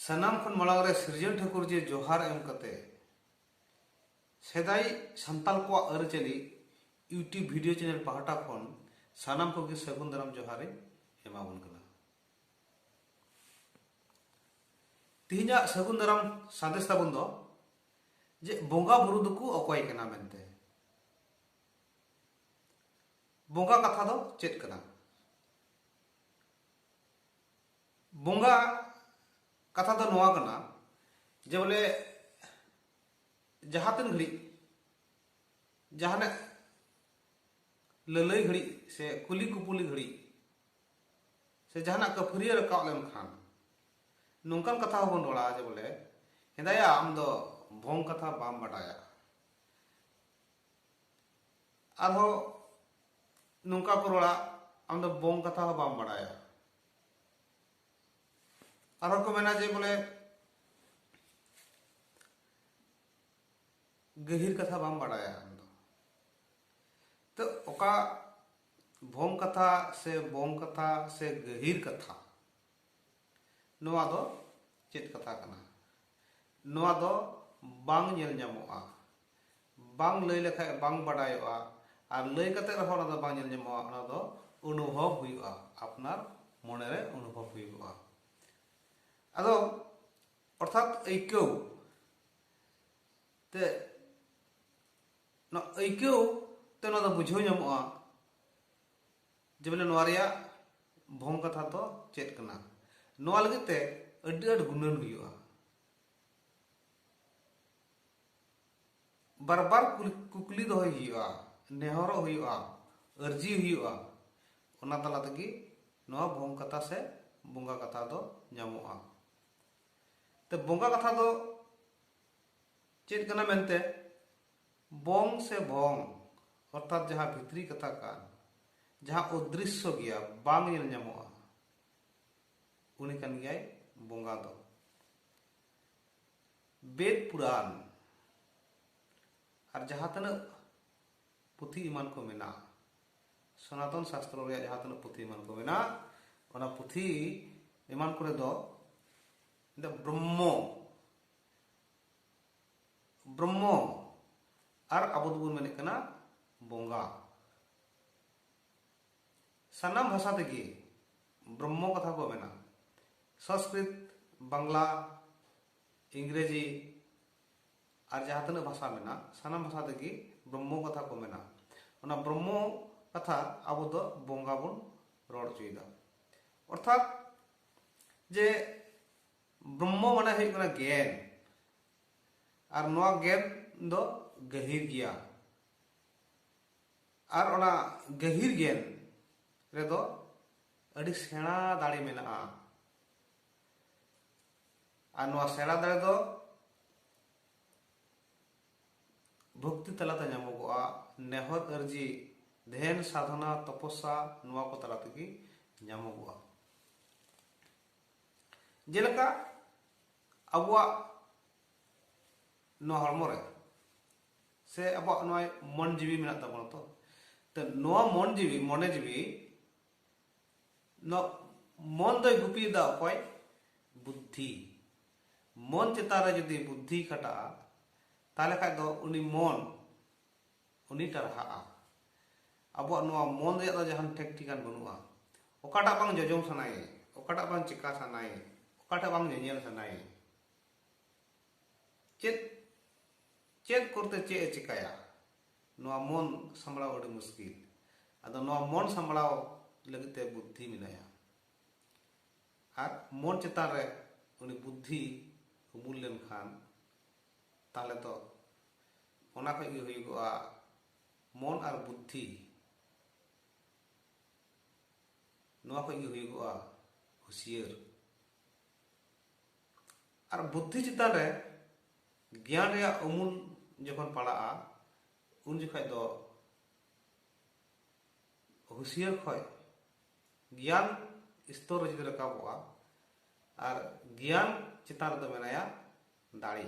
ᱥᱟᱱᱟᱢ ᱠᱷᱚᱱ ᱢᱟᱲᱟᱝ ᱨᱮ ᱥᱤᱨᱡᱚᱱ ᱴᱷᱟᱹᱠᱩᱨ ᱡᱮ ᱡᱚᱦᱟᱨ ᱮᱢ ᱠᱟᱛᱮ ᱥᱮᱫᱟᱭ ᱥᱟᱱᱛᱟᱞ ᱠᱚᱣᱟᱜ ᱟᱹᱨᱤᱪᱟᱹᱞᱤ ᱤᱭᱩᱴᱤᱭᱩᱵ ᱵᱷᱤᱰᱤᱭᱳ ᱪᱮᱱᱮᱞ ᱯᱟᱦᱴᱟ ᱠᱷᱚᱱ ᱥᱟᱱᱟᱢ ᱠᱚᱜᱮ ᱥᱟᱹᱜᱩᱱ ᱫᱟᱨᱟᱢ ᱡᱚᱦᱟᱨ ᱤᱧ ᱮᱢᱟᱵᱚᱱ ᱠᱟᱱᱟ ᱛᱮᱦᱮᱧᱟᱜ ᱥᱟᱹᱜᱩᱱ ᱫᱟᱨᱟᱢ ᱥᱟᱸᱫᱮᱥ ᱛᱟᱵᱚᱱ ᱫᱚ ᱡᱮ ᱵᱚᱸᱜᱟ ᱵᱩᱨᱩ ᱫᱚᱠᱚ ᱚᱠᱚᱭ ᱠᱟᱱᱟ ᱢᱮᱱᱛᱮ ᱵᱚᱸᱜᱟ ᱠᱟᱛᱷᱟ ᱫᱚ ᱪᱮᱫ ᱠᱟᱱᱟ ᱵᱚᱸᱜᱟ ᱠᱟᱛᱷᱟ ᱫᱚ ᱱᱚᱣᱟ ᱠᱟᱱᱟ ᱡᱮ ᱵᱚᱞᱮ ᱡᱟᱦᱟᱸ ᱛᱤᱱ ᱜᱷᱟᱹᱲᱤᱡ ᱡᱟᱦᱟᱱᱟᱜ ᱞᱟᱹᱞᱟᱹᱭ ᱜᱷᱟᱹᱲᱤᱡ ᱥᱮ ᱠᱩᱞᱤ ᱠᱩᱯᱩᱞᱤ ᱜᱷᱟᱹᱲᱤᱡ ᱥᱮ ᱡᱟᱦᱟᱱᱟᱜ ᱠᱟᱹᱯᱷᱟᱹᱨᱤᱭᱟᱹ ᱨᱟᱠᱟᱵ ᱞᱮᱱᱠᱷᱟᱱ ᱱᱚᱝᱠᱟᱱ ᱠᱟᱛᱷᱟ ᱦᱚᱸᱵᱚᱱ ᱨᱚᱲᱟ ᱡᱮ ᱵᱚᱞᱮ ᱦᱮᱸᱫᱟᱭᱟ ᱟᱢ ᱫᱚ ᱵᱷᱚᱝ ᱠᱟᱛᱷᱟ ᱵᱟᱢ ᱵᱟᱰᱟᱭᱟ ᱟᱨᱦᱚᱸ ᱱᱚᱝᱠᱟ ᱠᱚ ᱨᱚᱲᱟ ᱟᱢ ᱫᱚ ᱵᱚᱝ ᱠᱟᱛᱷᱟ ᱦᱚᱸ ᱵᱟᱢ ᱵᱟᱲᱟᱭᱟ ᱟᱨᱦᱚᱸ ᱠᱚ ᱢᱮᱱᱟ ᱡᱮ ᱵᱚᱞᱮ ᱜᱟᱹᱦᱤᱨ ᱠᱟᱛᱷᱟ ᱵᱟᱢ ᱵᱟᱲᱟᱭᱟ ᱟᱢ ᱫᱚ ᱛᱚ ᱚᱠᱟ ᱵᱷᱚᱝ ᱠᱟᱛᱷᱟ ᱥᱮ ᱵᱚᱝ ᱠᱟᱛᱷᱟ ᱥᱮ ᱜᱟᱹᱦᱤᱨ ᱠᱟᱛᱷᱟ ᱱᱚᱣᱟ ᱫᱚ ᱪᱮᱫ ᱠᱟᱛᱷᱟ ᱠᱟᱱᱟ ᱱᱚᱣᱟ ᱫᱚ ᱵᱟᱝ ᱧᱮᱞ ᱧᱟᱢᱚᱜᱼᱟ ᱵᱟᱝ ᱞᱟᱹᱭ ᱞᱮᱠᱷᱟᱱ ᱵᱟᱝ ᱵᱟᱰᱟᱭᱚᱜᱼᱟ ᱟᱨ ᱞᱟᱹᱭ ᱠᱟᱛᱮ ᱨᱮᱦᱚᱸ ᱚᱱᱟ ᱫᱚ ᱵᱟᱝ ᱧᱮᱞ ᱧᱟᱢᱚᱜᱼᱟ ᱚᱱᱟ ᱫᱚ ᱚᱱᱩᱵᱷᱚᱵ ᱦᱩᱭᱩᱜᱼᱟ ᱟᱯᱱᱟᱨ ᱢᱚᱱᱮ ᱨᱮ ᱚᱱᱩᱵᱷᱚᱵ ᱦᱩᱭᱩᱜᱼᱟ ᱟᱫᱚ ᱚᱨᱛᱷᱟᱛ ᱟᱹᱭᱠᱟᱹᱣ ᱛᱮ ᱱᱚᱣᱟ ᱟᱹᱭᱠᱟᱹᱣ ᱛᱮ ᱱᱚᱣᱟ ᱫᱚ ᱵᱩᱡᱷᱟᱹᱣ ᱧᱟᱢᱚᱜᱼᱟ ᱡᱮᱵᱚᱞᱮ ᱱᱚᱣᱟ ᱨᱮᱭᱟᱜ ᱵᱷᱚᱝ ᱠᱟᱛᱷᱟ ᱫᱚ ᱪᱮᱫ ᱠᱟᱱᱟ ᱱᱚᱣᱟ ᱞᱟᱹᱜᱤᱫ ᱛᱮ ᱟᱹᱰᱤ ᱟᱹᱰᱤ ᱜᱩᱱᱟᱹᱱ ᱦᱩᱭᱩᱜᱼᱟ ᱵᱟᱨ ᱵᱟᱨ ᱠᱩᱠᱞᱤ ᱫᱚᱦᱚᱭ ᱦᱩᱭᱩᱜᱼᱟ ᱱᱮᱦᱚᱨᱚᱜ ᱦᱩᱭᱩᱜᱼᱟ ᱟᱹᱨᱡᱤ ᱦᱩᱭᱩᱜᱼᱟ ᱚᱱᱟ ᱛᱟᱞᱟ ᱛᱮᱜᱮ ᱱᱚᱣᱟ ᱵᱷᱚᱝ ᱠᱟᱛᱷᱟ ᱥᱮ ᱵᱚᱸᱜᱟ ᱠᱟᱛᱷᱟ ᱫᱚ ᱧᱟᱢᱚᱜᱼᱟ ᱛᱮ ᱵᱚᱸᱜᱟ ᱠᱟᱛᱷᱟ ᱫᱚ ᱪᱮᱫ ᱠᱟᱱᱟ ᱢᱮᱱᱛᱮ ᱵᱚᱝ ᱥᱮ ᱵᱷᱚᱝ ᱚᱨᱛᱷᱟᱛ ᱡᱟᱦᱟᱸ ᱵᱷᱤᱛᱨᱤ ᱠᱟᱛᱷᱟ ᱠᱟᱱ, ᱡᱟᱦᱟᱸ ᱚᱫᱨᱤᱥᱥᱚ ᱜᱮᱭᱟ, ᱵᱟᱝ ᱧᱮᱞ ᱧᱟᱢᱚᱜᱼᱟ, ᱩᱱᱤ ᱠᱟᱱ ᱜᱮᱭᱟᱭ ᱵᱚᱸᱜᱟ ᱫᱚ᱾ ᱵᱮᱫᱽ ᱯᱩᱨᱟᱱ ᱟᱨ ᱡᱟᱦᱟᱸ ᱛᱤᱱᱟᱹᱜ ᱯᱩᱛᱷᱤ ᱮᱢᱟᱱ ᱠᱚ ᱢᱮᱱᱟᱜᱼᱟ, ᱥᱚᱱᱟᱛᱚᱱ ᱥᱟᱥᱛᱨᱚ ᱨᱮᱭᱟᱜ ᱡᱟᱦᱟᱸ ᱛᱤᱱᱟᱹᱜ ᱯᱩᱛᱷᱤ ᱮᱢᱟᱱ ᱠᱚ ᱢᱮᱱᱟᱜᱼᱟ, ᱚᱱᱟ ᱯᱩᱛᱷᱤ ᱮᱢᱟᱱ ᱠᱚᱨᱮ ᱫᱚ ᱫᱚ ᱵᱨᱚᱦᱢᱚ ᱵᱨᱚᱦᱢᱚ ᱟᱨ ᱟᱵᱚ ᱫᱚᱵᱚᱱ ᱢᱮᱱᱮᱫ ᱠᱟᱱᱟ ᱵᱚᱸᱜᱟ ᱥᱟᱱᱟᱢ ᱵᱷᱟᱥᱟ ᱛᱮᱜᱮ ᱵᱨᱚᱦᱢᱚ ᱠᱟᱛᱷᱟ ᱠᱚ ᱢᱮᱱᱟ ᱥᱚᱝᱥᱠᱨᱤᱛ ᱵᱟᱝᱞᱟ ᱤᱝᱨᱮᱡᱤ ᱟᱨ ᱡᱟᱦᱟᱸ ᱛᱤᱱᱟᱹᱜ ᱵᱷᱟᱥᱟ ᱢᱮᱱᱟᱜ ᱥᱟᱱᱟᱢ ᱵᱷᱟᱥᱟ ᱛᱮᱜᱮ ᱵᱨᱚᱦᱢᱚ ᱠᱟᱛᱷᱟ ᱠᱚ ᱢᱮᱱᱟ ᱚᱱᱟ ᱵᱨᱚᱦᱢᱚ ᱠᱟᱛᱷᱟ ᱟᱵᱚ ᱫᱚ ᱵᱚᱸᱜᱟ ᱵᱚᱱ ᱨᱚᱲ ᱦᱚᱪᱚᱭᱮᱫᱟ ᱚᱨᱛᱷᱟᱛ ᱡᱮ ᱵᱨᱚᱦᱢᱚ ᱢᱟᱱᱮ ᱦᱩᱭᱩᱜ ᱠᱟᱱᱟ ᱜᱮᱭᱟᱱ ᱟᱨ ᱱᱚᱣᱟ ᱜᱮᱭᱟᱱ ᱫᱚ ᱜᱟᱹᱦᱤᱨ ᱜᱮᱭᱟ ᱟᱨ ᱚᱱᱟ ᱜᱟᱹᱦᱤᱨ ᱜᱮᱭᱟᱱ ᱨᱮᱫᱚ ᱟᱹᱰᱤ ᱥᱮᱬᱟ ᱫᱟᱲᱮ ᱢᱮᱱᱟᱜᱼᱟ ᱟᱨ ᱱᱚᱣᱟ ᱥᱮᱬᱟ ᱫᱟᱲᱮ ᱫᱚ ᱵᱷᱚᱠᱛᱤ ᱛᱟᱞᱟᱛᱮ ᱧᱟᱢᱚᱜᱚᱜᱼᱟ ᱱᱮᱦᱚᱨ ᱟᱹᱨᱡᱤ ᱫᱷᱮᱱ ᱥᱟᱫᱷᱚᱱᱟ ᱛᱚᱯᱚᱥᱟ ᱱᱚᱣᱟ ᱠᱚ ᱛᱟᱞᱟ ᱛᱮᱜᱮ ᱧᱟᱢᱚᱜᱚᱜᱼᱟ ᱡᱮᱞᱮᱠᱟ ᱟᱵᱚᱣᱟᱜ ᱱᱚᱣᱟ ᱦᱚᱲᱢᱚ ᱨᱮ ᱥᱮ ᱟᱵᱚᱣᱟᱜ ᱱᱚᱣᱟ ᱢᱚᱱ ᱡᱤᱣᱤ ᱢᱮᱱᱟᱜ ᱛᱟᱵᱚᱱᱟ ᱛᱚ ᱛᱚ ᱱᱚᱣᱟ ᱢᱚᱱ ᱡᱤᱣᱤ ᱢᱚᱱᱮ ᱡᱤᱣᱤ ᱱᱚᱣᱟ ᱢᱚᱱ ᱫᱚᱭ ᱜᱩᱯᱤᱭᱮᱫᱟ ᱚᱠᱚᱭ ᱵᱩᱫᱽᱫᱷᱤ ᱢᱚᱱ ᱪᱮᱛᱟᱱ ᱨᱮ ᱡᱩᱫᱤ ᱵᱩᱫᱽᱫᱷᱤ ᱠᱷᱟᱴᱟᱜᱼᱟ ᱛᱟᱦᱚᱞᱮ ᱠᱷᱟᱱ ᱫᱚ ᱩᱱᱤ ᱢᱚᱱ ᱩᱱᱤ ᱴᱟᱨᱦᱟᱜᱼᱟ ᱟᱵᱚᱣᱟᱜ ᱱᱚᱣᱟ ᱢᱚᱱ ᱨᱮᱭᱟᱜ ᱫᱚ ᱡᱟᱦᱟᱱ ᱴᱷᱮᱠ ᱴᱷᱤᱠᱟᱱ ᱵᱟᱹᱱᱩᱜᱼᱟ ᱚᱠᱟᱴᱟᱜ ᱵᱟᱝ ᱡᱚᱡᱚᱢ ᱥᱟᱱᱟᱭᱮ ᱚᱠᱟᱴᱟᱜ ᱵᱟᱝ ᱪᱮᱠᱟ ᱥᱟᱱᱟᱭᱮ ᱚᱠᱟᱴᱟᱜ ᱵᱟᱝ ᱧᱮᱧᱮᱞ ᱥᱟᱱᱟᱭᱮ ᱪᱮᱫ ᱪᱮᱫ ᱠᱚᱨᱛᱮ ᱪᱮᱫ ᱮ ᱪᱮᱠᱟᱭᱟ ᱱᱚᱣᱟ ᱢᱚᱱ ᱥᱟᱢᱵᱲᱟᱣ ᱟᱹᱰᱤ ᱢᱩᱥᱠᱤᱞ ᱟᱫᱚ ᱱᱚᱣᱟ ᱢᱚᱱ ᱥᱟᱢᱵᱲᱟᱣ ᱞᱟᱹᱜᱤᱫ ᱛᱮ ᱵᱩᱫᱽᱫᱷᱤ ᱢᱮᱱᱟᱭᱟ ᱟᱨ ᱢᱚᱱ ᱪᱮᱛᱟᱱ ᱨᱮ ᱩᱱᱤ ᱵᱩᱫᱽᱫᱷᱤ ᱩᱢᱩᱞ ᱞᱮᱱᱠᱷᱟᱱ ᱛᱟᱦᱚᱞᱮ ᱛᱚ ᱚᱱᱟ ᱠᱷᱚᱡ ᱜᱮ ᱦᱩᱭᱩᱜᱚᱜᱼᱟ ᱢᱚᱱ ᱟᱨ ᱵᱩᱫᱽᱫᱷᱤ ᱱᱚᱣᱟ ᱠᱷᱚᱡ ᱜᱮ ᱦᱩᱭᱩᱜᱚᱜᱼᱟ ᱦᱩᱥᱤᱭᱟᱹᱨ ᱟᱨ ᱵᱩᱫᱽᱫᱷᱤ ᱪᱮᱛᱟᱱ ᱨᱮ ᱜᱮᱭᱟᱱ ᱨᱮᱭᱟᱜ ᱩᱢᱩᱞ ᱡᱚᱠᱷᱚᱱ ᱯᱟᱲᱟᱜᱼᱟ ᱩᱱ ᱡᱚᱠᱷᱚᱡ ᱫᱚ ᱦᱩᱥᱤᱭᱟᱹᱨ ᱠᱷᱚᱡ ᱜᱮᱭᱟᱱ ᱥᱛᱚᱨ ᱨᱮ ᱡᱩᱫᱤ ᱨᱟᱠᱟᱵᱚᱜᱼᱟ ᱟᱨ ᱜᱮᱭᱟᱱ ᱪᱮᱛᱟᱱ ᱨᱮᱫᱚ ᱢᱮᱱᱟᱭᱟ ᱫᱟᱲᱮ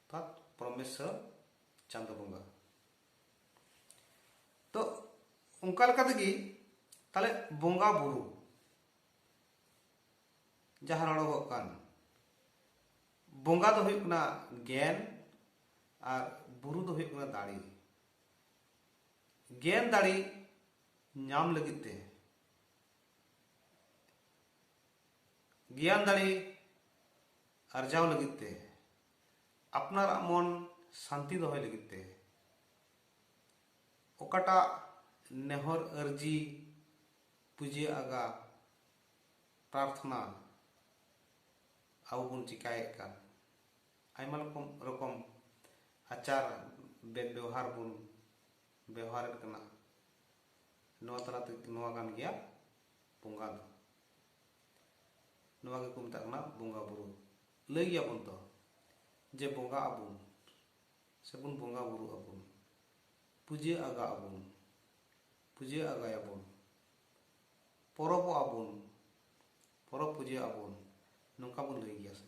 ᱚᱨᱛᱷᱟᱛ ᱯᱨᱚᱢᱮᱥᱥᱚᱨ ᱪᱟᱸᱫᱚ ᱵᱚᱸᱜᱟ ᱛᱚ ᱚᱱᱠᱟ ᱞᱮᱠᱟ ᱛᱮᱜᱮ ᱛᱟᱦᱞᱮ ᱵᱚᱸᱜᱟ ᱵᱩᱨᱩ ᱡᱟᱦᱟᱸ ᱨᱚᱲᱚᱜᱚᱜ ᱠᱟᱱ ᱵᱚᱸᱜᱟ ᱫᱚ ᱦᱩᱭᱩᱜ ᱠᱟᱱᱟ ᱜᱮᱱ ᱟᱨ ᱵᱩᱨᱩ ᱫᱚ ᱦᱩᱭᱩᱜ ᱠᱟᱱᱟ ᱫᱟᱲᱮ ᱜᱮᱱ ᱫᱟᱲᱮ ᱧᱟᱢ ᱞᱟᱹᱜᱤᱫ ᱛᱮ ᱜᱮᱭᱟᱱ ᱫᱟᱲᱮ ᱟᱨᱡᱟᱣ ᱞᱟᱹᱜᱤᱫ ᱛᱮ ᱟᱯᱱᱟᱨᱟᱜ ᱢᱚᱱ ᱥᱟᱱᱛᱤ ᱫᱚᱦᱚᱭ ᱞᱟᱹᱜᱤᱫ ᱛᱮ ᱚᱠᱟᱴᱟᱜ ᱱᱮᱦᱚᱨ ᱟᱹᱨᱡᱤ ᱯᱩᱡᱟᱹ ᱟᱜᱟ ᱯᱨᱟᱨᱛᱷᱱᱟ ᱟᱵᱚ ᱵᱚᱱ ᱪᱤᱠᱟᱭᱮᱫ ᱠᱟᱱ ᱟᱭᱢᱟ ᱨᱚᱠᱚᱢ ᱨᱚᱠᱚᱢ ᱟᱪᱟᱨ ᱵᱮᱵᱚᱦᱟᱨ ᱵᱚᱱ ᱵᱮᱣᱦᱟᱨᱮᱫ ᱠᱟᱱᱟ ᱱᱚᱣᱟ ᱛᱟᱞᱟᱛᱮ ᱱᱚᱣᱟ ᱠᱟᱱ ᱜᱮᱭᱟ ᱵᱚᱸᱜᱟ ᱫᱚ ᱱᱚᱣᱟ ᱜᱮᱠᱚ ᱢᱮᱛᱟᱜ ᱠᱟᱱᱟ ᱵᱚᱸᱜᱟ ᱵᱩᱨᱩ ᱞᱟᱹᱭ ᱜᱮᱭᱟᱵᱚᱱ ᱛᱚ ᱡᱮ ᱵᱚᱸᱜᱟ ᱟᱵᱚᱱ ᱥᱮᱵᱚᱱ ᱵᱚᱸᱜᱟ ᱵᱩᱨᱩ ᱟᱵᱚᱱ ᱯᱩᱡᱟᱹ ᱟᱜᱟ ᱟᱵᱚᱱ ᱯᱩᱡᱟᱹ ᱟᱜᱟᱭᱟᱵᱚᱱ ᱯᱚᱨᱚᱵᱚᱜ ᱟᱵᱚᱱ ᱯᱚᱨᱚᱵᱽ ᱯᱩᱡᱟᱹ ᱟᱵᱚᱱ ᱱᱚᱝᱠᱟ ᱵᱚᱱ ᱞᱟᱹᱭ ᱜᱮᱭᱟ ᱥᱮ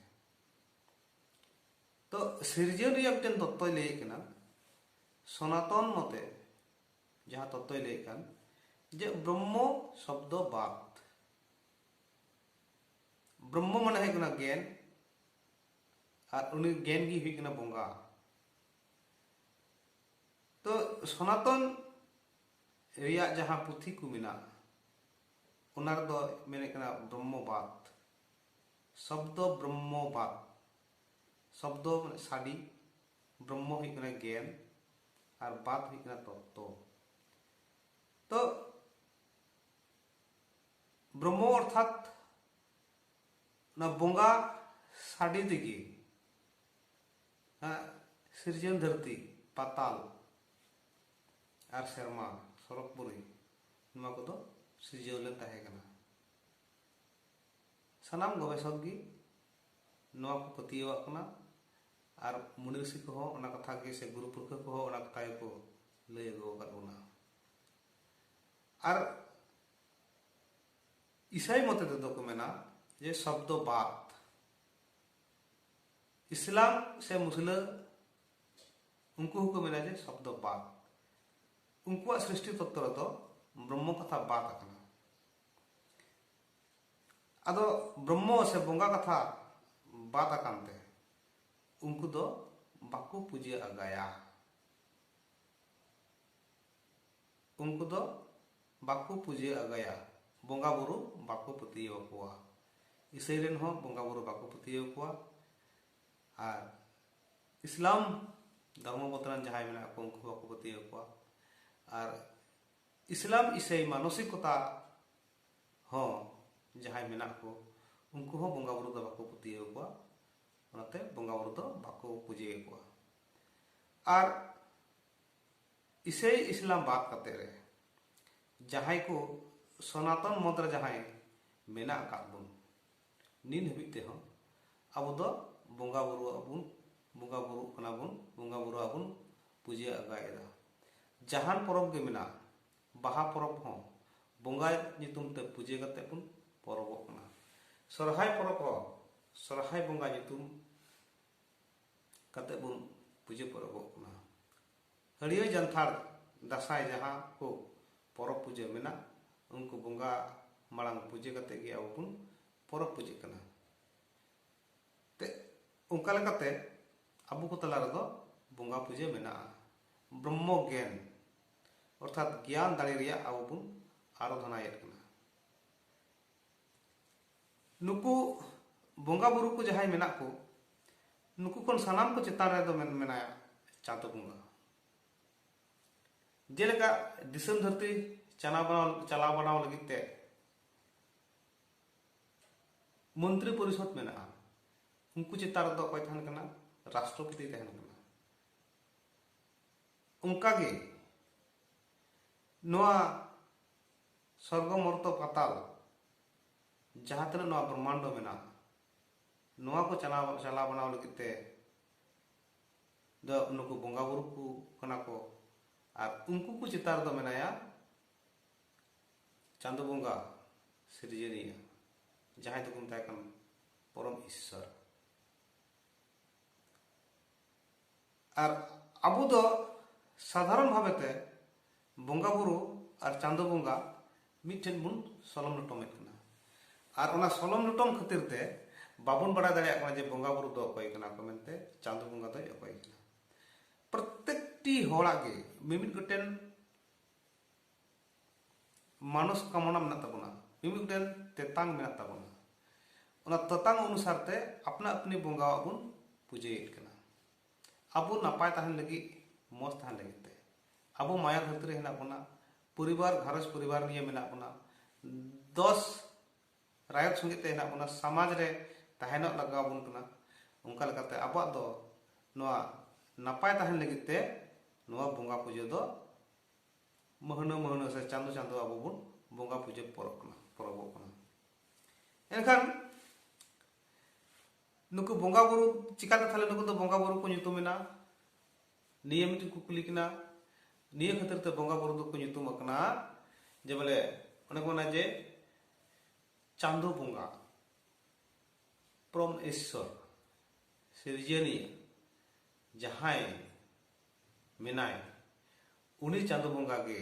ᱛᱚ ᱥᱤᱨᱡᱚᱱ ᱨᱮᱭᱟᱜ ᱢᱤᱫᱴᱮᱱ ᱛᱚᱛᱛᱚᱭ ᱞᱟᱹᱭᱮᱫ ᱠᱟᱱᱟ ᱥᱚᱱᱟᱛᱚᱱ ᱢᱚᱛᱮ ᱡᱟᱦᱟᱸ ᱛᱚᱛᱛᱚᱭ ᱞᱟᱹᱭᱮᱫ ᱠᱟᱱ ᱡᱮ ᱵᱨᱚᱦᱢᱚ ᱥᱚᱵᱫᱚ ᱵᱟᱫ ᱵᱨᱚᱦᱢᱚ ᱢᱟᱱᱮ ᱦᱩᱭᱩᱜ ᱠᱟᱱᱟ ᱜᱮᱱ ᱟᱨ ᱩᱱᱤ ᱜᱮᱱ ᱜᱮ ᱦᱩᱭᱩᱜ ᱠᱟᱱᱟ ᱵᱚᱸᱜᱟ ᱛᱚ ᱥᱚᱱᱟᱛᱚᱱ ᱨᱮᱭᱟᱜ ᱡᱟᱦᱟᱸ ᱯᱩᱛᱷᱤ ᱠᱚ ᱢᱮᱱᱟᱜᱼᱟ ᱚᱱᱟ ᱨᱮᱫᱚ ᱢᱮᱱᱮᱫ ᱠᱟᱱᱟ ᱵᱨᱚᱦᱢᱚ ᱵᱟᱫ ᱥᱚᱵᱫᱚ ᱵᱨᱚᱦᱢᱚ ᱵᱟᱫ ᱥᱚᱵᱫᱚ ᱢᱟᱱᱮ ᱥᱟᱰᱤ ᱵᱨᱚᱦᱢᱚ ᱦᱩᱭᱩᱜ ᱠᱟᱱᱟ ᱜᱮᱱ ᱟᱨ ᱵᱟᱛ ᱦᱩᱭᱩᱜ ᱠᱟᱱᱟ ᱛᱚᱛᱛᱚ ᱛᱚ ᱵᱨᱚᱦᱢᱚ ᱚᱨᱛᱷᱟᱛ ᱚᱱᱟ ᱵᱚᱸᱜᱟ ᱥᱟᱰᱮ ᱛᱮᱜᱮ ᱥᱤᱨᱡᱚᱱ ᱫᱷᱟᱹᱨᱛᱤ ᱯᱟᱛᱟᱞ ᱟᱨ ᱥᱮᱨᱢᱟ ᱥᱚᱨᱚᱜᱽ ᱯᱩᱨᱤ ᱱᱚᱣᱟ ᱠᱚᱫᱚ ᱥᱤᱨᱡᱟᱹᱣ ᱞᱮᱱ ᱛᱟᱦᱮᱸ ᱠᱟᱱᱟ ᱥᱟᱱᱟᱢ ᱜᱚᱵᱮᱥᱚᱠ ᱜᱮ ᱱᱚᱣᱟ ᱠᱚ ᱯᱟᱹᱛᱭᱟᱹᱣᱟᱜ ᱠᱟᱱᱟ ᱟᱨ ᱢᱩᱱᱤ ᱨᱤᱥᱤ ᱠᱚ ᱦᱚᱸ ᱚᱱᱟ ᱠᱟᱛᱷᱟ ᱜᱮ ᱥᱮ ᱜᱩᱨᱩ ᱯᱩᱨᱠᱷᱟᱹ ᱠᱚ ᱦᱚᱸ ᱚᱱᱟ ᱠᱟᱛᱷᱟ ᱜᱮ ᱠᱚ ᱞᱟᱹᱭ ᱟᱹᱜᱩ ᱟᱠᱟᱫ ᱵᱚᱱᱟ ᱟᱨ ᱤᱥᱟᱭ ᱢᱚᱛᱮ ᱛᱮᱫᱚ ᱠᱚ ᱢᱮᱱᱟ ᱡᱮ ᱥᱚᱵᱫᱚ ᱵᱟᱫ ᱤᱥᱞᱟᱢ ᱥᱮ ᱢᱩᱥᱞᱟᱹ ᱩᱱᱠᱩ ᱦᱚᱸᱠᱚ ᱢᱮᱱᱟ ᱡᱮ ᱥᱚᱵᱫᱚ ᱵᱟᱫ ᱩᱱᱠᱩᱣᱟᱜ ᱥᱨᱤᱥᱴᱤ ᱛᱚᱛᱛᱚ ᱨᱮᱫᱚ ᱵᱨᱚᱦᱢᱚ ᱠᱟᱛᱷᱟ ᱵᱟᱫ ᱟᱠᱟᱱᱟ ᱟᱫᱚ ᱵᱨᱚᱦᱢᱚ ᱥᱮ ᱵᱚᱸᱜᱟ ᱠᱟᱛᱷᱟ ᱵᱟᱫ ᱟᱠᱟᱱ ᱛᱮ ᱩᱱᱠᱩ ᱫᱚ ᱵᱟᱠᱚ ᱯᱩᱡᱟᱹ ᱟᱜᱟᱭᱟ᱾ ᱩᱱᱠᱩ ᱫᱚ ᱵᱟᱠᱚ ᱯᱩᱡᱟᱹ ᱟᱜᱟᱭᱟ, ᱵᱚᱸᱜᱟ ᱵᱩᱨᱩ ᱵᱟᱠᱚ ᱯᱟᱹᱛᱭᱟᱹᱣ ᱟᱠᱚᱣᱟ᱾ ᱤᱥᱟᱹᱭ ᱨᱮᱱ ᱦᱚᱸ ᱵᱚᱸᱜᱟ ᱵᱩᱨᱩ ᱵᱟᱠᱚ ᱯᱟᱹᱛᱭᱟᱹᱣ ᱟᱠᱚᱣᱟ᱾ ᱟᱨ ᱤᱥᱞᱟᱢ ᱫᱷᱚᱨᱢᱚ ᱢᱚᱛ ᱨᱮᱱ ᱡᱟᱦᱟᱸᱭ ᱢᱮᱱᱟᱜ ᱠᱚ ᱩᱱᱠᱩ ᱦᱚᱸ ᱵᱟᱠᱚ ᱯᱟᱹᱛᱭᱟᱹᱣ ᱟᱠᱚᱣᱟ᱾ ᱟᱨ ᱤᱥᱞᱟᱢ ᱤᱥᱟᱹᱭ ᱢᱟᱱᱚᱥᱤᱠᱚᱛᱟ ᱦᱚᱸ ᱡᱟᱦᱟᱸᱭ ᱢᱮᱱᱟᱜ ᱠᱚ ᱩᱱᱠᱩ ᱦᱚᱸ ᱵᱚᱸᱜᱟ ᱵᱩᱨᱩ ᱫᱚ ᱵᱟᱠᱚ ᱯᱟᱹᱛᱭᱟᱹᱣ ᱠᱚᱣᱟ ᱚᱱᱟᱛᱮ ᱵᱚᱸᱜᱟ ᱵᱩᱨᱩ ᱫᱚ ᱵᱟᱠᱚ ᱯᱩᱡᱟᱹᱭ ᱠᱚᱣᱟ ᱟᱨ ᱤᱥᱟᱹᱭ ᱤᱥᱞᱟᱢ ᱵᱟᱫ ᱠᱟᱛᱮ ᱨᱮ ᱡᱟᱦᱟᱸᱭ ᱠᱚ ᱥᱚᱱᱟᱛᱚᱱ ᱢᱚᱛ ᱨᱮ ᱡᱟᱦᱟᱸᱭ ᱢᱮᱱᱟᱜ ᱟᱠᱟᱫ ᱵᱚᱱ ᱱᱤᱱ ᱦᱟᱹᱵᱤᱡ ᱛᱮᱦᱚᱸ ᱟᱵᱚ ᱫᱚ ᱵᱚᱸᱜᱟ ᱵᱩᱨᱩ ᱟᱵᱚᱱ ᱵᱚᱸᱜᱟ ᱵᱩᱨᱩ ᱠᱟᱱᱟ ᱵᱚᱱ ᱵᱚᱸᱜᱟ ᱵᱩᱨᱩ ᱟᱵᱚᱱ ᱯᱩᱡᱟᱹ ᱟᱜᱟᱭᱮᱫᱟ ᱡᱟᱦᱟᱱ ᱯᱚᱨᱚᱵᱽ ᱜᱮ ᱢᱮᱱᱟᱜᱼᱟ ᱵᱟᱦᱟ ᱯᱚᱨᱚᱵᱽ ᱦᱚᱸ ᱵᱚᱸᱜᱟᱭ ᱧᱩᱛᱩᱢ ᱛᱮ ᱯᱩᱡᱟᱹ ᱠᱟᱛᱮ ᱵᱚᱱ ᱯᱚᱨᱚᱵᱚᱜ ᱠᱟᱱᱟ᱾ ᱥᱚᱨᱦᱟᱭ ᱯᱚᱨᱚᱵᱽ ᱦᱚᱸ ᱥᱚᱨᱦᱟᱭ ᱵᱚᱸᱜᱟ ᱧᱩᱛᱩᱢ ᱠᱟᱛᱮ ᱵᱚᱱ ᱯᱩᱡᱟᱹ ᱯᱚᱨᱚᱵᱚᱜ ᱠᱟᱱᱟ᱾ ᱦᱟᱹᱲᱭᱟᱹᱨ ᱡᱟᱱᱛᱷᱟᱲ ᱫᱟᱥᱟᱸᱭ ᱡᱟᱦᱟᱸ ᱠᱚ ᱯᱚᱨᱚᱵᱽ ᱯᱩᱡᱟᱹ ᱢᱮᱱᱟᱜ ᱩᱱᱠᱩ ᱵᱚᱸᱜᱟ ᱢᱟᱲᱟᱝ ᱯᱩᱡᱟᱹ ᱠᱟᱛᱮ ᱜᱮ ᱟᱵᱚ ᱵᱚᱱ ᱯᱚᱨᱚᱵᱽ ᱯᱩᱡᱟᱹᱜ ᱠᱟᱱᱟ᱾ ᱛᱮ ᱚᱱᱠᱟ ᱞᱮᱠᱟᱛᱮ ᱟᱵᱚ ᱠᱚ ᱛᱟᱞᱟ ᱨᱮᱫᱚ ᱵᱚᱸᱜᱟ ᱯᱩᱡᱟᱹ ᱢᱮᱱᱟᱜᱼᱟ᱾ ᱵᱨᱚᱢᱢᱚ ᱜᱮᱱ ᱚᱨᱛᱷᱟᱛ ᱜᱮᱭᱟᱱ ᱫᱟᱲᱮ ᱨᱮᱭᱟᱜ ᱟᱵᱚ ᱵᱚᱱ ᱟᱨᱟᱫᱷᱚᱱᱟᱭᱮᱫ ᱠᱟᱱᱟ ᱱᱩᱠᱩ ᱵᱚᱸᱜᱟ ᱵᱩᱨᱩ ᱠᱚ ᱡᱟᱦᱟᱸᱭ ᱢᱮᱱᱟᱜ ᱠᱚ ᱱᱩᱠᱩ ᱠᱷᱚᱱ ᱥᱟᱱᱟᱢ ᱠᱚ ᱪᱮᱛᱟᱱ ᱨᱮᱫᱚ ᱢᱮᱱᱟᱭᱟ ᱪᱟᱸᱫᱚ ᱵᱚᱸᱜᱟ ᱡᱮᱞᱮᱠᱟ ᱫᱤᱥᱚᱢ ᱫᱷᱟᱹᱨᱛᱤ ᱪᱟᱞᱟᱣ ᱵᱟᱲᱟᱣ ᱪᱟᱞᱟᱣ ᱵᱟᱲᱟᱣ ᱞᱟᱹᱜᱤᱫ ᱛᱮ ᱢᱚᱱᱛᱨᱤ ᱯᱚᱨᱤᱥᱚᱫ ᱢᱮᱱᱟᱜᱼᱟ ᱩᱱᱠᱩ ᱪᱮᱛᱟᱱ ᱨᱮᱫᱚ ᱚᱠᱚᱭ ᱛᱟᱦᱮᱱ ᱠᱟᱱᱟ ᱨᱟᱥᱴᱨᱚᱯᱚᱛᱤ ᱛᱟᱦᱮᱱ ᱠᱟᱱᱟ ᱚᱱᱠᱟᱜᱮ ᱱᱚᱣᱟ ᱥᱚᱨᱜᱚ ᱢᱚᱨᱛᱚ ᱯᱟᱛᱟᱞ ᱡᱟᱦᱟᱸ ᱛᱤᱱᱟᱹᱜ ᱱᱚᱣᱟ ᱵᱨᱚᱦᱢᱟᱱᱰᱚ ᱢᱮᱱᱟᱜᱼᱟ ᱱᱚᱣᱟ ᱠᱚ ᱪᱟᱞᱟᱣ ᱪᱟᱞᱟᱣ ᱵᱟᱱᱟᱣ ᱞᱟᱹᱜᱤᱫ ᱛᱮ ᱫᱚ ᱱᱩᱠᱩ ᱵᱚᱸᱜᱟ ᱵᱩᱨᱩ ᱠᱚ ᱠᱟᱱᱟ ᱠᱚ ᱟᱨ ᱩᱱᱠᱩ ᱠᱚ ᱪᱮᱛᱟᱱ ᱨᱮᱫᱚ ᱢᱮᱱᱟᱭᱟ ᱪᱟᱸᱫᱚ ᱵᱚᱸᱜᱟ ᱥᱤᱨᱡᱚᱱᱤᱭᱟᱹ ᱡᱟᱦᱟᱸᱭ ᱫᱚᱠᱚ ᱢᱮᱛᱟᱭ ᱠᱟᱱ ᱯᱚᱨᱚᱢ ᱤᱥᱥᱚᱨ ᱟᱨ ᱟᱵᱚ ᱫᱚ ᱥᱟᱫᱷᱟᱨᱚᱱ ᱵᱷᱟᱵᱮ ᱛᱮ ᱵᱚᱸᱜᱟ ᱵᱩᱨᱩ ᱟᱨ ᱪᱟᱸᱫᱚ ᱵᱚᱸᱜᱟ ᱢᱤᱫᱴᱷᱮᱱ ᱵᱚᱱ ᱥᱚᱞᱚᱢ ᱞᱚᱴᱚᱢᱮᱫ ᱠᱟᱱᱟ ᱟᱨ ᱚᱱᱟ ᱥᱚᱞᱚᱢ ᱞᱚᱴᱚᱢ ᱠᱷᱟᱹᱛᱤᱨ ᱛᱮ ᱵᱟᱵᱚᱱ ᱵᱟᱲᱟᱭ ᱫᱟᱲᱮᱭᱟᱜ ᱠᱟᱱᱟ ᱡᱮ ᱵᱚᱸᱜᱟ ᱵᱩᱨᱩ ᱫᱚ ᱚᱠᱚᱭ ᱠᱟᱱᱟ ᱠᱚ ᱢᱮᱱᱛᱮ ᱪᱟᱸᱫᱚ ᱵᱚᱸᱜᱟ ᱫᱚᱭ ᱚᱠᱚᱭ ᱠᱟᱱᱟ ᱯᱨᱚᱛᱮᱠᱴᱤ ᱦᱚᱲᱟᱜ ᱜᱮ ᱢᱤᱢᱤᱫ ᱜᱚᱴᱮᱱ ᱢᱟᱱᱚᱥ ᱠᱟᱢᱚᱱᱟ ᱢᱮᱱᱟᱜ ᱛᱟᱵᱚᱱᱟ ᱢᱤᱢᱤᱫ ᱜᱚᱴᱮᱱ ᱛᱮᱛᱟᱝ ᱢᱮᱱᱟᱜ ᱛᱟᱵᱚᱱᱟ ᱚᱱᱟ ᱛᱮᱛᱟᱝ ᱚᱱᱩᱥᱟᱨ ᱛᱮ ᱟᱯᱱᱟ ᱟᱯᱱᱤ ᱵᱚᱸᱜᱟᱣᱟᱜ ᱵᱚᱱ ᱯᱩᱡᱟᱹᱭᱮᱫ ᱠᱟᱱᱟ ᱟᱵᱚ ᱱᱟᱯᱟᱭ ᱛᱟᱦᱮᱱ ᱞᱟᱹᱜᱤᱫ ᱢᱚᱡᱽ ᱛᱟᱦᱮᱱ ᱞᱟᱹᱜᱤᱫ ᱛᱮ ᱟᱵᱚ ᱢᱟᱭᱟ ᱫᱷᱟᱹᱨᱛᱤ ᱨᱮ ᱦᱮᱱᱟᱜ ᱵᱚᱱᱟ ᱯᱚᱨᱤᱵᱟᱨ ᱜᱷᱟᱨᱚᱸᱡᱽ ᱯᱚᱨᱤᱵᱟᱨ ᱱᱤᱭᱮ ᱢᱮᱱᱟᱜ ᱵᱚᱱᱟ ᱫᱚᱥ ᱨᱟᱭᱚᱛ ᱥᱚᱸᱜᱮ ᱛᱮ ᱦᱮᱱᱟᱜ ᱵᱚᱱᱟ ᱥᱚᱢᱟᱡᱽ ᱨᱮ ᱛᱟᱦᱮᱱᱚᱜ ᱞᱟᱜᱟᱣ ᱵᱚᱱ ᱠᱟᱱᱟ ᱚᱱᱠᱟ ᱞᱮᱠᱟᱛᱮ ᱟᱵᱚᱣᱟᱜ ᱫᱚ ᱱᱚᱣᱟ ᱱᱟᱯᱟᱭ ᱛᱟᱦᱮᱱ ᱞᱟᱹᱜᱤᱫ ᱛᱮ ᱱᱚᱣᱟ ᱵᱚᱸᱜᱟ ᱯᱩᱡᱟᱹ ᱫᱚ ᱢᱟᱹᱦᱱᱟᱹ ᱢᱟᱹᱦᱱᱟᱹ ᱥᱮ ᱪᱟᱸᱫᱚ ᱪᱟᱸᱫᱚ ᱟᱵᱚ ᱵᱚᱱ ᱵᱚᱸᱜᱟ ᱯᱩᱡᱟᱹ ᱯᱚᱨᱚᱵᱽ ᱠᱟᱱᱟ ᱯᱚᱨᱚᱵᱚᱜ ᱠᱟᱱᱟ ᱮᱱᱠᱷᱟᱱ ᱱᱩᱠᱩ ᱵᱚᱸᱜᱟ ᱵᱩᱨᱩ ᱪᱤᱠᱟᱛᱮ ᱛᱟᱦᱞᱮ ᱱᱩᱠᱩ ᱫᱚ ᱵᱚᱸᱜᱟ ᱵᱩᱨᱩ ᱠᱚ ᱧᱩᱛᱩᱢ ᱮᱱᱟ ᱱᱤᱭᱟᱹ ᱢᱤᱫᱴᱤᱡ ᱠᱩᱠᱞᱤ ᱠᱟᱱᱟ ᱱᱤᱭᱟᱹ ᱠᱷᱟᱹᱛᱤᱨ ᱛᱮ ᱵᱚᱸᱜᱟ ᱵᱩᱨᱩ ᱫᱚᱠᱚ ᱧᱩᱛᱩᱢ ᱟᱠᱟᱱᱟ ᱡᱮ ᱵᱚᱞᱮ ᱚᱱᱮ ᱠᱚ ᱢᱮᱱᱟ ᱡᱮ ᱪᱟᱸᱫᱚ ᱵᱚᱸᱜᱟ ᱯᱨᱚᱢ ᱤᱥᱥᱚᱨ ᱥᱤᱨᱡᱟᱹᱱᱤᱭᱟᱹ ᱡᱟᱦᱟᱸᱭ ᱢᱮᱱᱟᱭ ᱩᱱᱤ ᱪᱟᱸᱫᱚ ᱵᱚᱸᱜᱟ ᱜᱮ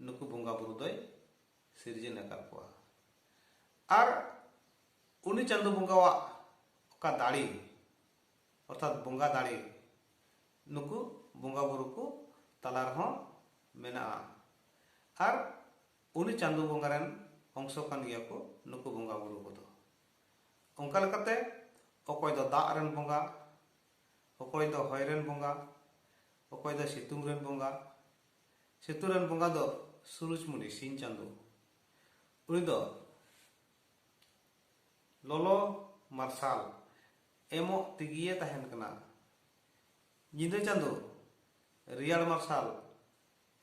ᱱᱩᱠᱩ ᱵᱚᱸᱜᱟ ᱵᱩᱨᱩ ᱫᱚᱭ ᱥᱤᱨᱡᱚᱱ ᱟᱠᱟᱫ ᱠᱚᱣᱟ ᱟᱨ ᱩᱱᱤ ᱪᱟᱸᱫᱚ ᱵᱚᱸᱜᱟᱣᱟᱜ ᱚᱠᱟ ᱫᱟᱲᱮ ᱚᱨᱛᱷᱟᱛ ᱵᱚᱸᱜᱟ ᱫᱟᱲᱮ ᱱᱩᱠᱩ ᱵᱚᱸᱜᱟ ᱵᱩᱨᱩ ᱠᱚ ᱛᱟᱞᱟ ᱨᱮᱦᱚᱸ ᱢᱮᱱᱟᱜᱼᱟ ᱟᱨ ᱩᱱᱤ ᱪᱟᱸᱫᱚ ᱵᱚᱸᱜᱟ ᱨᱮᱱ ᱚᱝᱥᱚ ᱠᱟᱱ ᱜᱮᱭᱟ ᱠᱚ ᱱᱩᱠᱩ ᱵᱚᱸᱜᱟ ᱵᱩᱨᱩ ᱠᱚᱫᱚ ᱚᱱᱠᱟ ᱞᱮᱠᱟᱛᱮ ᱚᱠᱚᱭ ᱫᱚ ᱫᱟᱜ ᱨᱮᱱ ᱵᱚᱸᱜᱟ ᱚᱠᱚᱭ ᱫᱚ ᱦᱚᱭ ᱨᱮᱱ ᱵᱚᱸᱜᱟ ᱚᱠᱚᱭ ᱫᱚ ᱥᱤᱛᱩᱝ ᱨᱮᱱ ᱵᱚᱸᱜᱟ ᱥᱮᱛᱩ ᱨᱮᱱ ᱵᱚᱸᱜᱟ ᱫᱚ ᱥᱩᱨᱩᱡᱽᱢᱩᱱᱤ ᱥᱤᱧ ᱪᱟᱸᱫᱚ ᱩᱱᱤ ᱫᱚ ᱞᱚᱞᱚ ᱢᱟᱨᱥᱟᱞ ᱮᱢᱚᱜ ᱛᱮᱜᱮᱭᱮ ᱛᱟᱦᱮᱱ ᱠᱟᱱᱟ ᱧᱤᱫᱟᱹ ᱪᱟᱸᱫᱚ ᱨᱮᱭᱟᱲ ᱢᱟᱨᱥᱟᱞ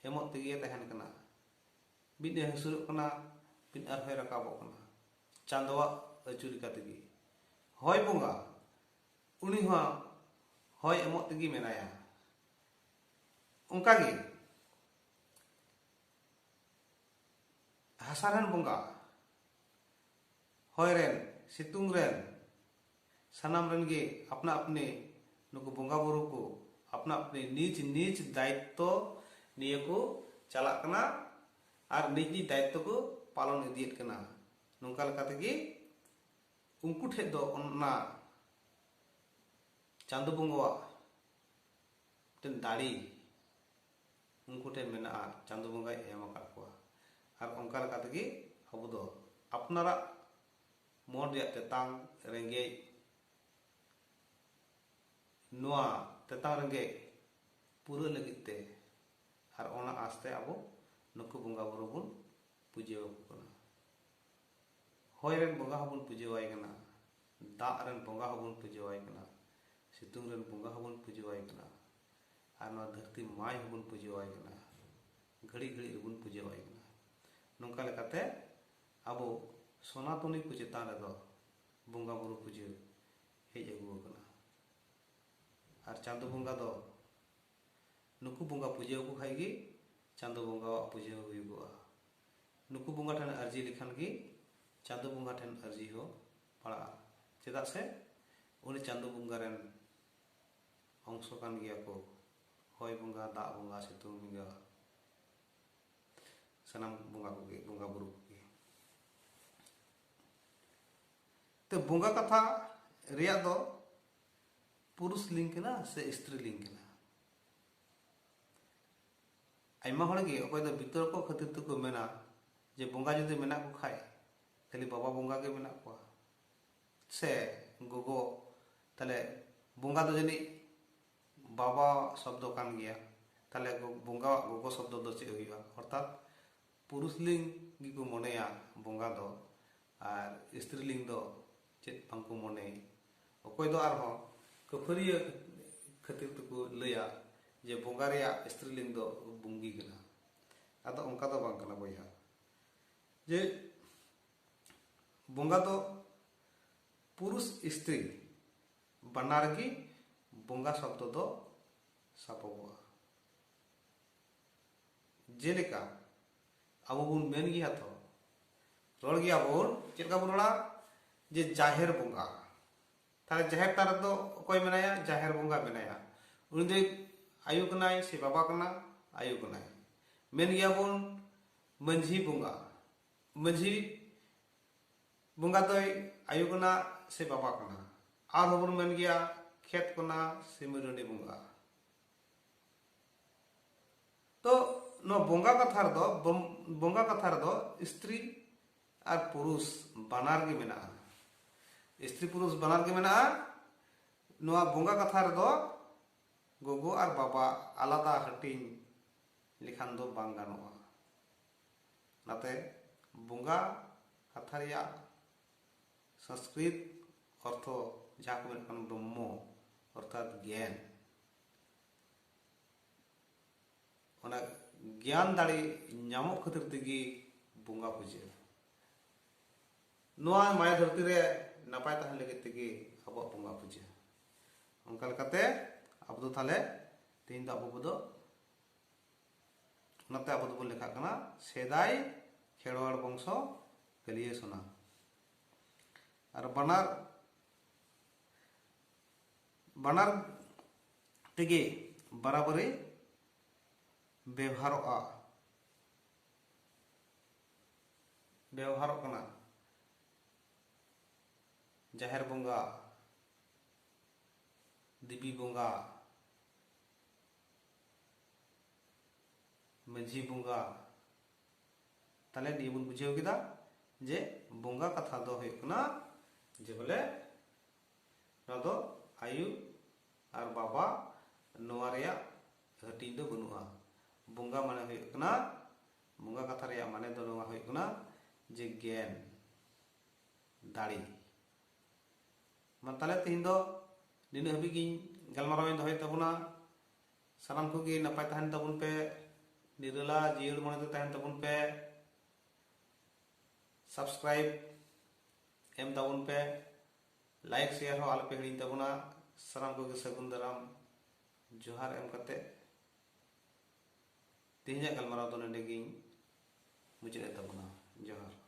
ᱮᱢᱚᱜ ᱛᱮᱜᱮᱭᱮ ᱛᱟᱦᱮᱱ ᱠᱟᱱᱟ ᱢᱤᱫ ᱮ ᱦᱟᱹᱥᱩᱨᱚᱜ ᱠᱟᱱᱟ ᱢᱤᱫ ᱟᱨᱦᱚᱸᱭ ᱨᱟᱠᱟᱵᱚᱜ ᱠᱟᱱᱟ ᱪᱟᱸᱫᱚᱣᱟᱜ ᱟᱹᱪᱩ ᱞᱮᱠᱟ ᱛᱮᱜᱮ ᱦᱚᱭ ᱵᱚᱸᱜᱟ ᱩᱱᱤ ᱦᱚᱸ ᱦᱚᱭ ᱮᱢᱚᱜ ᱛᱮᱜᱮ ᱢᱮᱱᱟᱭᱟ ᱚᱱᱠᱟᱜᱮ ᱦᱟᱥᱟ ᱨᱮᱱ ᱵᱚᱸᱜᱟ ᱦᱚᱭ ᱨᱮᱱ ᱥᱤᱛᱩᱝ ᱨᱮᱱ ᱥᱟᱱᱟᱢ ᱨᱮᱱ ᱜᱮ ᱟᱯᱱᱟ ᱟᱯᱱᱤ ᱱᱩᱠᱩ ᱵᱚᱸᱜᱟ ᱵᱩᱨᱩ ᱠᱚ ᱟᱯᱱᱟ ᱟᱯᱱᱤ ᱱᱤᱡ ᱱᱤᱡ ᱫᱟᱭᱤᱛᱛᱚ ᱱᱤᱭᱟᱹ ᱠᱚ ᱪᱟᱞᱟᱜ ᱠᱟᱱᱟ ᱟᱨ ᱱᱤᱡ ᱱᱤᱡ ᱫᱟᱭᱤᱛᱛᱚ ᱠᱚ ᱯᱟᱞᱚᱱ ᱤᱫᱤᱭᱮᱫ ᱠᱟᱱᱟ ᱱᱚᱝᱠᱟ ᱞᱮᱠᱟ ᱛᱮᱜᱮ ᱩᱱᱠᱩ ᱴᱷᱮᱡ ᱫᱚ ᱚᱱᱟ ᱪᱟᱸᱫᱚ ᱵᱚᱸᱜᱟᱣᱟᱜ ᱢᱤᱫᱴᱮᱱ ᱫᱟᱲᱮ ᱩᱱᱠᱩ ᱴᱷᱮᱱ ᱢᱮᱱᱟᱜᱼᱟ ᱪᱟᱸᱫᱚ ᱵᱚᱸᱜᱟᱭ ᱮᱢ ᱟᱠᱟᱫ ᱠᱚᱣᱟ ᱟᱨ ᱚᱱᱠᱟ ᱞᱮᱠᱟ ᱛᱮᱜᱮ ᱟᱵᱚ ᱫᱚ ᱟᱯᱱᱟᱨᱟᱜ ᱢᱚᱱ ᱨᱮᱭᱟᱜ ᱛᱮᱛᱟᱝ ᱨᱮᱸᱜᱮᱡ ᱱᱚᱣᱟ ᱛᱮᱛᱟᱝ ᱨᱮᱸᱜᱮᱡ ᱯᱩᱨᱟᱹ ᱞᱟᱹᱜᱤᱫ ᱛᱮ ᱟᱨ ᱚᱱᱟ ᱟᱥᱛᱮ ᱟᱵᱚ ᱱᱩᱠᱩ ᱵᱚᱸᱜᱟ ᱵᱩᱨᱩ ᱵᱚᱱ ᱯᱩᱡᱟᱹ ᱟᱠᱚ ᱠᱟᱱᱟ ᱦᱚᱭ ᱨᱮᱱ ᱵᱚᱸᱜᱟ ᱦᱚᱸᱵᱚᱱ ᱯᱩᱡᱟᱹᱣᱟᱭ ᱠᱟᱱᱟ ᱫᱟᱜ ᱨᱮᱱ ᱵᱚᱸᱜᱟ ᱦᱚᱸ ᱵᱚᱱ ᱯᱩᱡᱟᱹ ᱟᱭ ᱠᱟᱱᱟ ᱥᱤᱛᱩᱝ ᱨᱮᱱ ᱵᱚᱸᱜᱟ ᱦᱚᱸ ᱵᱚᱱ ᱯᱩᱡᱟᱹ ᱟᱭ ᱠᱟᱱᱟ ᱟᱨ ᱱᱚᱣᱟ ᱫᱷᱟᱹᱨᱛᱤ ᱢᱟᱭ ᱦᱚᱸ ᱵᱚᱱ ᱯᱩᱡᱟᱹ ᱟᱭ ᱠᱟᱱᱟ ᱜᱷᱟᱹᱲᱤ ᱜᱷᱟᱹᱲᱤ ᱨᱮᱵᱚᱱ ᱯᱩᱡᱟᱹ ᱟᱭ ᱠᱟᱱᱟ ᱱᱚᱝᱠᱟ ᱞᱮᱠᱟᱛᱮ ᱟᱵᱚ ᱥᱚᱱᱟᱛᱚᱱᱤ ᱠᱚ ᱪᱮᱛᱟᱱ ᱨᱮᱫᱚ ᱵᱚᱸᱜᱟ ᱵᱩᱨᱩ ᱯᱩᱡᱟᱹ ᱦᱮᱡ ᱟᱹᱜᱩ ᱟᱠᱟᱱᱟ ᱟᱨ ᱪᱟᱸᱫᱚ ᱵᱚᱸᱜᱟ ᱫᱚ ᱱᱩᱠᱩ ᱵᱚᱸᱜᱟ ᱯᱩᱡᱟᱹ ᱟᱠᱚ ᱠᱷᱟᱱ ᱜᱮ ᱪᱟᱸᱫᱚ ᱵᱚᱸᱜᱟᱣᱟᱜ ᱯᱩᱡᱟᱹ ᱦᱩᱭᱩᱜᱚᱜᱼᱟ ᱱᱩᱠᱩ ᱵᱚᱸᱜᱟ ᱴᱷᱮᱱ ᱟᱹᱨᱡᱤ ᱞᱮᱠᱷᱟᱱ ᱜᱮ ᱪᱟᱸᱫᱚ ᱵᱚᱸᱜᱟ ᱴᱷᱮᱱ ᱟᱹᱨᱡᱤ ᱦᱚᱸ ᱯᱟᱲᱟᱜᱼᱟ ᱪᱮᱫᱟᱜ ᱥᱮ ᱩᱱᱤ ᱪᱟᱸᱫᱚ ᱵᱚᱸᱜᱟ ᱨᱮᱱ ᱚᱝᱥᱚ ᱠᱟᱱ ᱜᱮᱭᱟ ᱠᱚ ᱦᱚᱭ ᱵᱚᱸᱜᱟ ᱫᱟᱜ ᱵᱚᱸᱜᱟ ᱥᱤᱛᱩᱝ ᱵᱚᱸᱜᱟ ᱥᱟᱱᱟᱢ ᱵᱚᱸᱜᱟ ᱠᱚᱜᱮ ᱵᱚᱸᱜᱟ ᱵᱩᱨᱩ ᱠᱚᱜᱮ ᱛᱚ ᱵᱚᱸᱜᱟ ᱠᱟᱛᱷᱟ ᱨᱮᱭᱟᱜ ᱫᱚ ᱯᱩᱨᱩᱥ ᱞᱤᱝ ᱠᱟᱱᱟ ᱥᱮ ᱥᱛᱨᱤ ᱞᱤᱝ ᱠᱟᱱᱟ ᱟᱭᱢᱟ ᱦᱚᱲ ᱜᱮ ᱚᱠᱚᱭ ᱫᱚ ᱵᱤᱛᱚᱨᱠᱚ ᱠᱷᱟᱹᱛᱤᱨ ᱛᱮᱠᱚ ᱢᱮᱱᱟ ᱡᱮ ᱵᱚᱸᱜᱟ ᱡᱩᱫᱤ ᱢᱮᱱᱟᱜ ᱠᱚ ᱠᱷᱟᱡ ᱠᱷᱟᱹᱞᱤ ᱵᱟᱵᱟ ᱵᱚᱸᱜᱟ ᱜᱮ ᱢᱮᱱᱟᱜ ᱠᱚᱣᱟ ᱥᱮ ᱜᱚᱜᱚ ᱛᱟᱦᱞᱮ ᱵᱚᱸᱜᱟ ᱫᱚ ᱡᱟᱹᱱᱤᱡ ᱵᱟᱵᱟ ᱥᱚᱵᱫᱚ ᱠᱟᱱ ᱜᱮᱭᱟ ᱛᱟᱦᱞᱮ ᱵᱚᱸᱜᱟᱣᱟᱜ ᱜᱚᱜᱚ ᱥᱚᱵᱫᱚ ᱫᱚ ᱪᱮᱫ ᱦᱩᱭᱩᱜᱼᱟ ᱚᱨᱛᱷᱟᱛ ᱯᱩᱨᱩᱥᱞᱤᱝ ᱜᱮᱠᱚ ᱢᱚᱱᱮᱭᱟ ᱵᱚᱸᱜᱟ ᱫᱚ ᱟᱨ ᱥᱛᱨᱤᱞᱤᱝ ᱫᱚ ᱪᱮᱫ ᱵᱟᱝ ᱠᱚ ᱢᱚᱱᱮ ᱚᱠᱚᱭ ᱫᱚ ᱟᱨᱦᱚᱸ ᱠᱟᱹᱯᱷᱟᱹᱨᱤᱭᱟᱹ ᱠᱷᱟᱹᱛᱤᱨ ᱛᱮᱠᱚ ᱞᱟᱹᱭᱟ ᱡᱮ ᱵᱚᱸᱜᱟ ᱨᱮᱭᱟᱜ ᱥᱛᱨᱤᱞᱤᱝ ᱫᱚ ᱵᱩᱝᱜᱤ ᱠᱟᱱᱟ ᱟᱫᱚ ᱚᱱᱠᱟ ᱫᱚ ᱵᱟᱝ ᱠᱟᱱᱟ ᱵᱚᱭᱦᱟ ᱡᱮ ᱵᱚᱸᱜᱟ ᱫᱚ ᱯᱩᱨᱩᱥ ᱥᱛᱨᱤ ᱵᱟᱱᱟᱨ ᱜᱮ ᱵᱚᱸᱜᱟ ᱥᱚᱵᱫᱚ ᱫᱚ ᱥᱟᱵᱚᱜᱚᱜᱼᱟ ᱡᱮᱞᱮᱠᱟ ᱟᱵᱚ ᱵᱚᱱ ᱢᱮᱱ ᱜᱮᱭᱟ ᱛᱚ ᱨᱚᱲ ᱜᱮᱭᱟ ᱵᱚᱱ ᱪᱮᱫ ᱞᱮᱠᱟ ᱵᱚᱱ ᱨᱚᱲᱟ ᱡᱮ ᱡᱟᱦᱮᱨ ᱵᱚᱸᱜᱟ ᱛᱟᱦᱞᱮ ᱡᱟᱦᱮᱨ ᱛᱟᱨ ᱨᱮᱫᱚ ᱚᱠᱚᱭ ᱢᱮᱱᱟᱭᱟ ᱡᱟᱦᱮᱨ ᱵᱚᱸᱜᱟ ᱢᱮᱱᱟᱭᱟ ᱩᱱᱤ ᱫᱚ ᱟᱭᱳ ᱠᱟᱱᱟᱭ ᱥᱮ ᱵᱟᱵᱟ ᱠᱟᱱᱟ ᱟᱭᱳ ᱠᱟᱱᱟᱭ ᱢᱮᱱ ᱜᱮᱭᱟ ᱵᱚᱱ ᱢᱟᱹᱡᱷᱤ ᱵᱚᱸᱜᱟ ᱢᱟᱹᱡᱷᱤ ᱵᱚᱸᱜᱟ ᱫᱚᱭ ᱟᱭᱳ ᱠᱟᱱᱟ ᱥᱮ ᱵᱟᱵᱟ ᱠᱟᱱᱟ ᱟᱨᱦᱚᱸ ᱵᱚᱱ ᱢᱮᱱ ᱜᱮᱭᱟ ᱠᱷᱮᱛ ᱠᱟᱱᱟ ᱥᱮ ᱢᱟᱹᱨᱟᱹᱰᱤ ᱵᱚᱸᱜᱟ ᱛᱚ ᱱᱚᱣᱟ ᱵᱚᱸᱜᱟ ᱠᱟᱛᱷᱟ ᱨᱮᱫᱚ ᱵᱚᱸᱜᱟ ᱠᱟᱛᱷᱟ ᱨᱮᱫᱚ ᱥᱛᱨᱤ ᱟᱨ ᱯᱩᱨᱩᱥ ᱵᱟᱱᱟᱨ ᱜᱮ ᱢᱮᱱᱟᱜᱼᱟ ᱥᱛᱨᱤ ᱯᱩᱨᱩᱥ ᱵᱟᱱᱟᱨ ᱜᱮ ᱢᱮᱱᱟᱜᱼᱟ ᱱᱚᱣᱟ ᱵᱚᱸᱜᱟ ᱠᱟᱛᱷᱟ ᱨᱮᱫᱚ ᱜᱚᱜᱚ ᱟᱨ ᱵᱟᱵᱟ ᱟᱞᱟᱫᱟ ᱦᱟᱹᱴᱤᱧ ᱞᱮᱠᱷᱟᱱ ᱫᱚ ᱵᱟᱝ ᱜᱟᱱᱚᱜᱼᱟ ᱚᱱᱟᱛᱮ ᱵᱚᱸᱜᱟ ᱠᱟᱛᱷᱟ ᱨᱮᱭᱟᱜ ᱥᱚᱝᱥᱠᱨᱤᱛ ᱚᱨᱛᱷᱚ ᱡᱟᱦᱟᱸ ᱠᱚ ᱢᱮᱛᱟᱜ ᱠᱟᱱ ᱵᱨᱚᱦᱢᱚ ᱚᱨᱛᱷᱟᱛ ᱜᱮᱭᱟᱱ ᱚᱱᱟ ᱜᱮᱭᱟᱱ ᱫᱟᱲᱮ ᱧᱟᱢᱚᱜ ᱠᱷᱟᱹᱛᱤᱨ ᱛᱮᱜᱮ ᱵᱚᱸᱜᱟ ᱯᱩᱡᱟᱹ ᱱᱚᱣᱟ ᱢᱟᱭᱟ ᱫᱷᱟᱹᱨᱛᱤ ᱨᱮ ᱱᱟᱯᱟᱭ ᱛᱟᱦᱮᱱ ᱞᱟᱹᱜᱤᱫ ᱛᱮᱜᱮ ᱟᱵᱚᱣᱟᱜ ᱵᱚᱸᱜᱟ ᱯᱩᱡᱟᱹ ᱚᱱᱠᱟ ᱞᱮᱠᱟᱛᱮ ᱟᱵᱚ ᱫᱚ ᱛᱟᱦᱞᱮ ᱛᱮᱦᱮᱧ ᱫᱚ ᱟᱵᱚ ᱠᱚᱫᱚ ᱚᱱᱟᱛᱮ ᱟᱵᱚ ᱫᱚᱵᱚᱱ ᱞᱮᱠᱷᱟᱜ ᱠᱟᱱᱟ ᱥᱮᱫᱟᱭ ᱠᱷᱮᱨᱣᱟᱲ ᱵᱚᱝᱥᱚ ᱠᱟᱹᱞᱤᱭᱟᱹ ᱥᱚᱱᱟ ᱟᱨ ᱵᱟᱱᱟᱨ ᱵᱟᱱᱟᱨ ᱛᱮᱜᱮ ᱵᱟᱨᱟᱵᱟᱨᱤ ᱵᱮᱣᱦᱟᱨᱚᱜᱼᱟ ᱵᱮᱣᱦᱟᱨᱚᱜ ᱠᱟᱱᱟ ᱡᱟᱦᱮᱨ ᱵᱚᱸᱜᱟ ᱫᱮᱵᱤ ᱵᱚᱸᱜᱟ ᱢᱟᱹᱡᱷᱤ ᱵᱚᱸᱜᱟ ᱛᱟᱦᱞᱮ ᱱᱤᱭᱟᱹ ᱵᱚᱱ ᱵᱩᱡᱷᱟᱹᱣ ᱠᱮᱫᱟ ᱡᱮ ᱵᱚᱸᱜᱟ ᱠᱟᱛᱷᱟ ᱫᱚ ᱦᱩᱭᱩᱜ ᱠᱟᱱᱟ ᱡᱮ ᱵᱚᱞᱮ ᱱᱚᱣᱟ ᱫᱚ ᱟᱭᱩ ᱟᱨ ᱵᱟᱵᱟ ᱱᱚᱣᱟ ᱨᱮᱭᱟᱜ ᱦᱟᱹᱴᱤᱧ ᱫᱚ ᱵᱟᱹᱱᱩᱜᱼᱟ ᱵᱚᱸᱜᱟ ᱢᱟᱱᱮ ᱦᱩᱭᱩᱜ ᱠᱟᱱᱟ ᱵᱚᱸᱜᱟ ᱠᱟᱛᱷᱟ ᱨᱮᱭᱟᱜ ᱢᱟᱱᱮ ᱫᱚ ᱱᱚᱣᱟ ᱦᱩᱭᱩᱜ ᱠᱟᱱᱟ ᱡᱮ ᱜᱮᱱ ᱫᱟᱲᱮ ᱢᱟ ᱛᱟᱦᱞᱮ ᱛᱮᱦᱮᱧ ᱫᱚ ᱱᱤᱱᱟᱹᱜ ᱦᱟᱹᱵᱤᱡ ᱜᱤᱧ ᱜᱟᱞᱢᱟᱨᱟᱣ ᱤᱧ ᱫᱚᱦᱚᱭᱮᱫ ᱛᱟᱵᱚᱱᱟ ᱥᱟᱱᱟᱢ ᱠᱚᱜᱮ ᱱᱟᱯᱟᱭ ᱛᱟᱦᱮᱱ ᱛᱟᱵᱚᱱ ᱯᱮ ᱱᱤᱨᱟᱹᱞᱟ ᱡᱤᱭᱟᱹᱲ ᱢᱚᱱᱮ ᱛᱮ ᱛᱟᱦᱮᱱ ᱛᱟᱵᱚᱱ ᱯᱮ ᱥᱟᱵᱥᱠᱨᱟᱭᱤᱵ ᱮᱢ ᱛᱟᱵᱚᱱ ᱯᱮ ᱞᱟᱭᱤᱠ ᱥᱮᱭᱟᱨ ᱦᱚᱸ ᱟᱞᱚᱯᱮ ᱦᱤᱲᱤᱧ ᱛᱟᱵᱚᱱᱟ ᱥᱟᱱᱟᱢ ᱠᱚᱜᱮ ᱥᱟᱹᱜᱩᱱ ᱫᱟᱨᱟᱢ ᱡᱚᱦᱟᱨ ᱮᱢ ᱠᱟᱛᱮ ᱛᱮᱦᱮᱧᱟᱜ ᱜᱟᱞᱢᱟᱨᱟᱣ ᱫᱚ ᱱᱚᱰᱮ ᱜᱤᱧ ᱢᱩᱪᱟᱹᱫ ᱮᱫ ᱛᱟᱵᱚᱱᱟ ᱡᱚᱦᱟᱨ